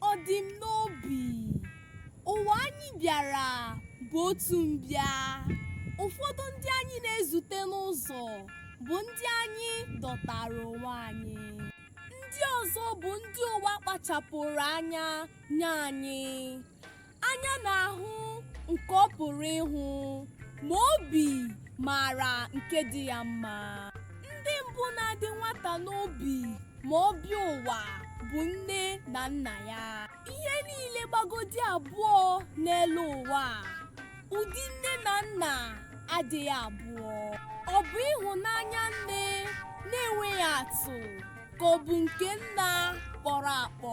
ọ dị m n'obi ụwa anyị bịara bụ otu mbịa ụfọdụ ndị anyị na-ezute n'ụzọ bụ ndị anyị dọtara onwe anyị ndị ọzọ bụ ndị ụwa kpachapụrụ anya nye anyị anya na-ahụ nke ọ pụrụ ịhụ ma obi maara nke dị ya mma ndị mbụ na-adị nwata n'obi ma ọ bịa ụwa bụ nne na nna ya ihe niile gbagodi abụọ n'elu ụwa, ụdị nne na nna adịghị abụọ ọ bụ ịhụnanya nne na-enweghị atụ ka ọ bụ nke nna kpọrọ akpọ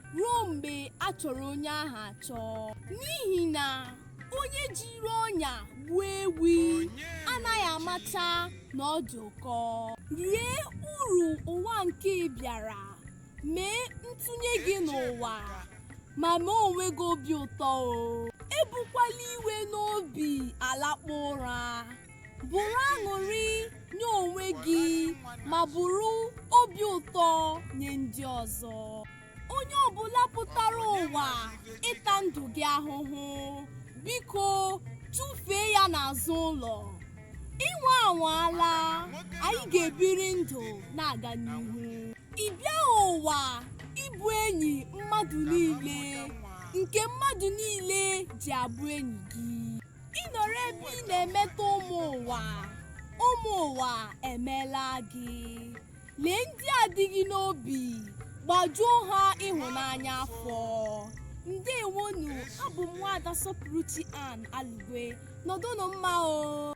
ruo mgbe a chọrọ onye ahụ achọ n'ihi na onye jiri ọnya gbuo ewi anaghị amacha na ọ dị ụkọ rie uru ụwa nke ị bịara mee ntụnye gị n'ụwa ma mee onwe gị obi ụtọ o ebukwala iwe n'obi alakpu ụra bụrụ aṅụrị nye onwe gị ma bụrụ obi ụtọ nye ndị ọzọ onye ọbụla pụtara ụwa ịta ndụ gị ahụhụ biko tụfee ya n'azụ ụlọ inwe anwaala anyị ga-ebiri ndụ na-aga n'ihu ị bịaghị ụwa ịbụ enyi mmadụ niile nke mmadụ niile ji abụ enyi gị ị nọrọ ebe ị na-emetọ ụmụ ụwa ụmụ ụwa emeela gị lee ndị a dị gị n'obi gbajuo ha ịhụnanya afọ ndewonu abụ m nwaada sọpụrụchi ann alugwe nọdụnụ mma o